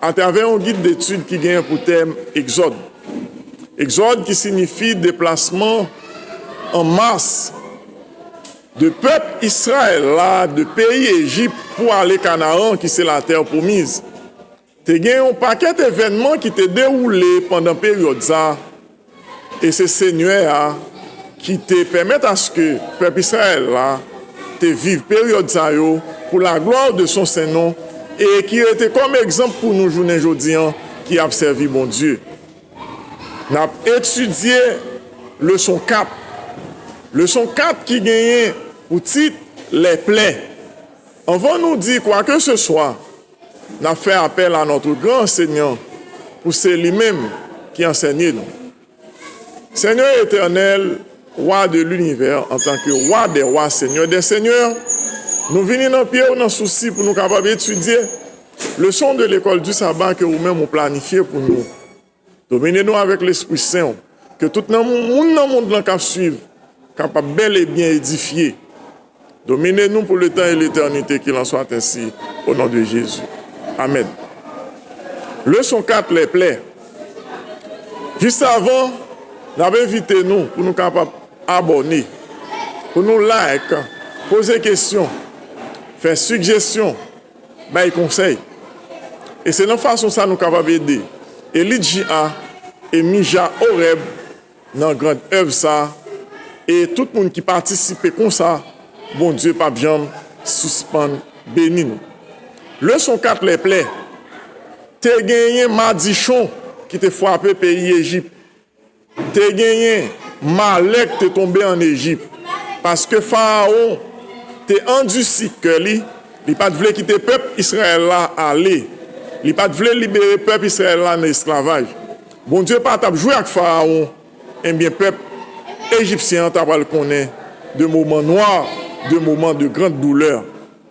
Atravè yon gid detid ki genyen pou tèm Egzòd. Egzòd ki sinifi deplasman an mas de pèp Israël la de peyi Ejip pou ale Kanaan ki se Latè Pwomiz. Te gen yon pakèt evènman ki te dewoule pandan peryòd sa. E se Senyè a ki te pèmèt aske pèp Israël la te viv peryòd sa yo pou la glwa de son sen non e ki rete kòm egzanp pou nou jounen jodi an ki ap sèvi Bondye. N ap etidye leson 4. Leson 4 ki genyen pou tit Lè plen. Anvan nou di kwakeseswa N ap fè apèl a notre gran ansenyan pou se li menm ki ansenye nou. Senyè Etènèl, Wa de linivè, antanke Wa dè Wa, Senyè dè Senyè, nou vini nan pye ou nan sousi pou nou kapab etidye leson de lekòl di saba ke ou menm ou planifye pou nou. Domine nou avèk Lespri Sen ou, ke tout nan moun nan mond lan kap swiv kapab bèl e byen edifye. Domine nou pou letan e letènite kil an swat ensi o non de Jezi. Amèn. Leson 4 lè plè Jis avan nap envite nou pou nou kapab abòne, pou nou like, poze kesyon, fè sigjesyon. Bay konsèy. E se nan fason sa nou kapab ede Elit JA e Mija Orèb nan grand èv sa e tout moun ki patisipe konsa Bondye pap janm sispann beni nou. Leson 4 Lè plè te genyen madichon ki te fwape peyi Ejip. Te genyen malè k te tonbe ann Ejip, paske Farawon te andisi kè li, li pa t vle kite pèp Izrayèl la ale, li pa t vle libere pèp Izrayèl la nan esklavaj. Bondye pa t ap jwe ak Farawon, enben pèp ejipsyen an t apral konnen de moman nwa, de moman de gran doulè.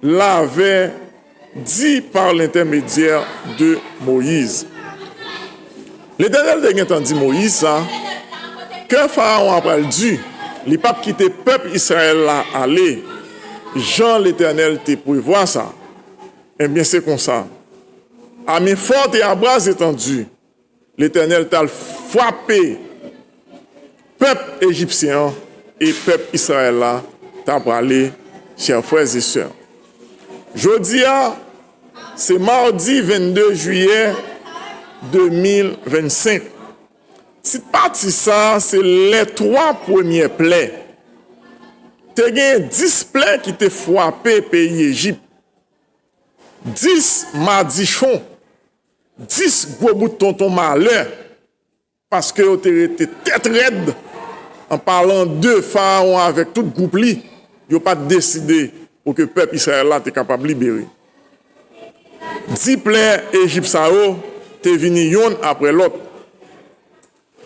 L'avè di par lentèmedyè de Moyiz. Letènèl te gentan di Moyiz sa, kè Farawon a pral di, li pap kite pèp Israèl la ale, jan Letènèl te prevwa sa. Enbyen se konsa, ame fò te a bras etandi. Letènèl t al frape pèp ejipsyen an e pèp Israël la t a prale chè frè e sè. Jodi a se mardi 22 jiyè 2025. Tit pati sa se lè 3 premyè plè. Te gen 10 plè ki te frape peyi Ejip. 10 madichon 10 gwo bout tonton malè, paske yo te rete tèt rèd, an palan de Farawon avèk tout gwoup li, yo pa t deside pou ke pèp Israël la te kapab libere. Di plen Ejip sa yo te vini yonn apre lòt.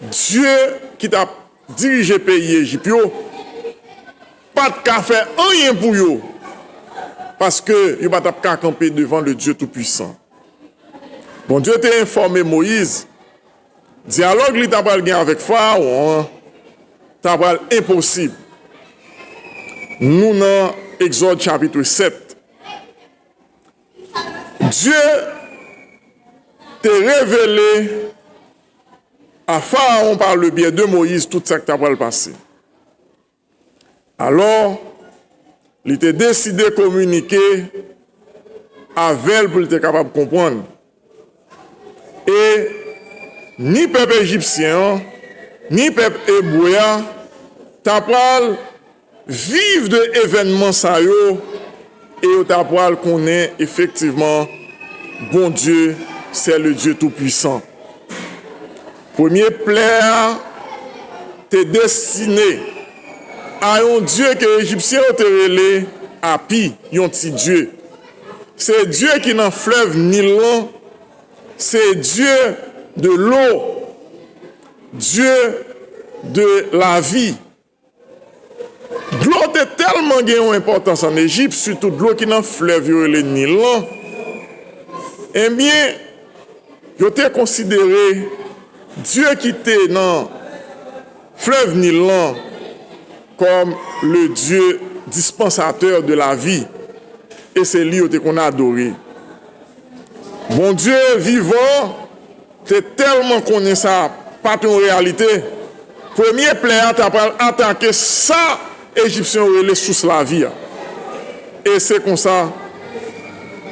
Dye ki tap dirije peyi Ejip yo pa t ka fè anyen pou yo, paske yo pa t ap ka kanpe devan Ledye Toupuisan. Bondye te enfòme Moyiz dyalòg li t apral gen avèk Farawon an t apral enposib, nou nan Egzòd chapitre 7. Dye te revele a Pharaon par le biais de Moïse tout sa k ta pral pase. Alò, li te deside kominike avè l pou l te kapab konprann. E, ni pèp ejipsyen an, ni pèp ebre a ta pral. viv de evènman sa yo e yo ta pral konnen efektivman Bondye se le Dye tou pwisan. Premye plè a te destine a yon dye ke Ejipsyen yo te rele Api, yon ti dye. Se dye ki nan flèv Nil lan, se dye de lo, dye de lavi. Dlo te tèlman gen yon enpòtans ann Ejip, sitou dlo ki nan flèv yo rele Nil lan, enben, yo te konsidere dye ki te nan flèv Nil lan kòm le dye dispensateur de la vie e se li yo te konn adore. Bondye vivan Te tèlman konnen sa pa t yon reyalite, premye plè a ta pral atake sa Ejipsyen yo rele sous lavi a. E se konsa,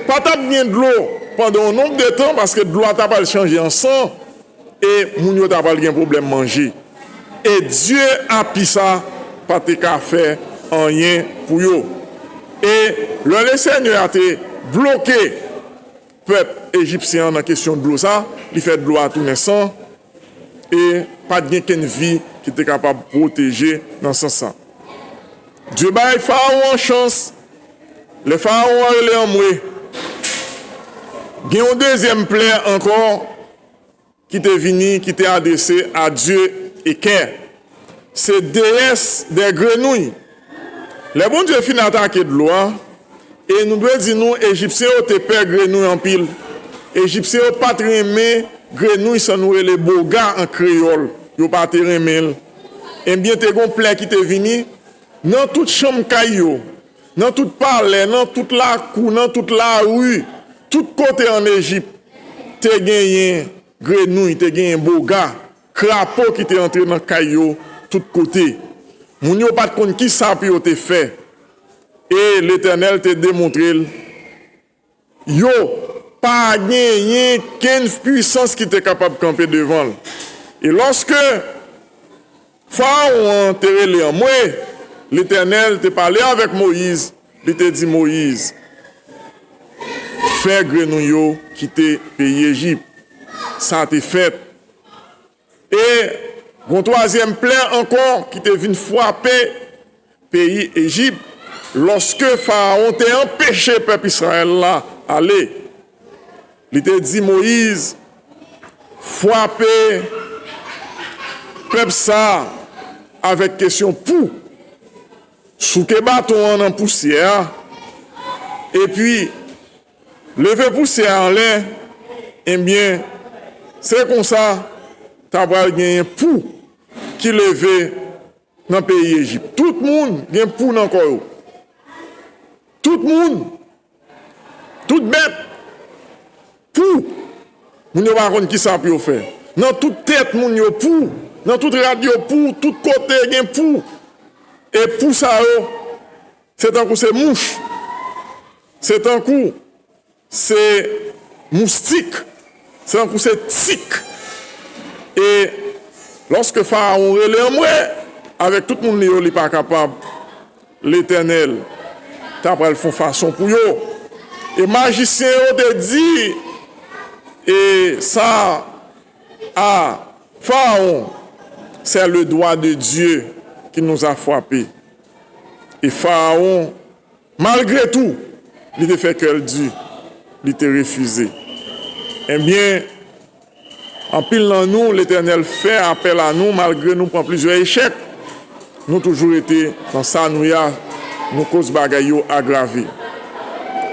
pa t ap gen dlo pandan yon nonb de tan paske dlo a ta pral chanje an san e moun yo ta pral gen pwoblèm manje. E dye api sa a pa te ka fè anyen pou yo. E lè Lesenyè a te bloke. Pèp ejipsyen an nan kesyon dlo sa, li fè dlo a tounen san e pa t gen kenn vi ki te kapab pwoteje nan sans sa. Dye bay farawon an chans, lè farawon an rele anmwe, gen yon dezyèm plè ankò. ki te vini, ki te adrese a dye Ekè, se deyès dè grenouy. Lè Bondye fin atake dlo a, e nou dwe di nou Ejipsyen yo te pè grenouy anpil. Ejipsyen yo pa t renmen grenouy sa nou rele boga an kreyòl, yo pa te renmen l. Ebyen te gen yon plè ki te vini nan tout chanm kay yo. Nan tout palè, nan tout lakou, nan tout lari, tout kote ann Ejip, te genyen grenouy, te genyen boga, krapo ki te antre nan kay yo tout kote. Moun yo pa t konn ki sa pou yo te fè, e Letènèl te demontre l Yo, pa genyen kenn fpuisans ki te kapab kanpe devan l. E lòske Farawon an te rele anmwe, Letènèl te pale avèk Moyiz, li te di Moyiz, Fè grenouy yo kite peyi Ejip. Sa te fèt. E gon twazyèm plè ankò ki te vin frape peyi Ejip, lòske Farawon te anpeche pèp Israël la ale. Li te di Moïse, Frape pèp sa a avèk kesyon pou, souke baton an nan pousyè a, epi. Leve pousyè a anlè ebyen se konsa ta pral genyen pou ki leve nan peyi Ejip. Tout moun gen pou nan kò yo. Tout moun, tout bèt, pou. Moun yo pa konn ki sa pou yo fè. Nan tout tèt moun yo pou, nan tout rad yo pou, tout kote gen pou. E pou sa yo. Se tankou se mouch. Se tankou se moustik. Se tankou se tik. E lòske Farawon rele anmwe, avèk tout moun li yo li pa kapab, Letènèl ta pral fon fason pou yo. E majisyen yo te di e sa a Farawon, Se le dwa de Dye ki nous a fwape. E Farawon, malgre tou, li te fè kè l di, li te refize. Ebyen, anpil nan nou, Letènèl fè apèl a nou malgre nou pran plizyè echèk. Nou toujou rete nan sa nou ye a, nou koz bagay yo agrave.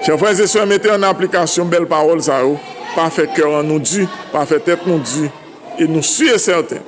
Chè frè e sè, mete an aplikasyon bèl pawòl sa yo, pa fè kè an nou di, pa fè tèt nou di, e nou si e sèten,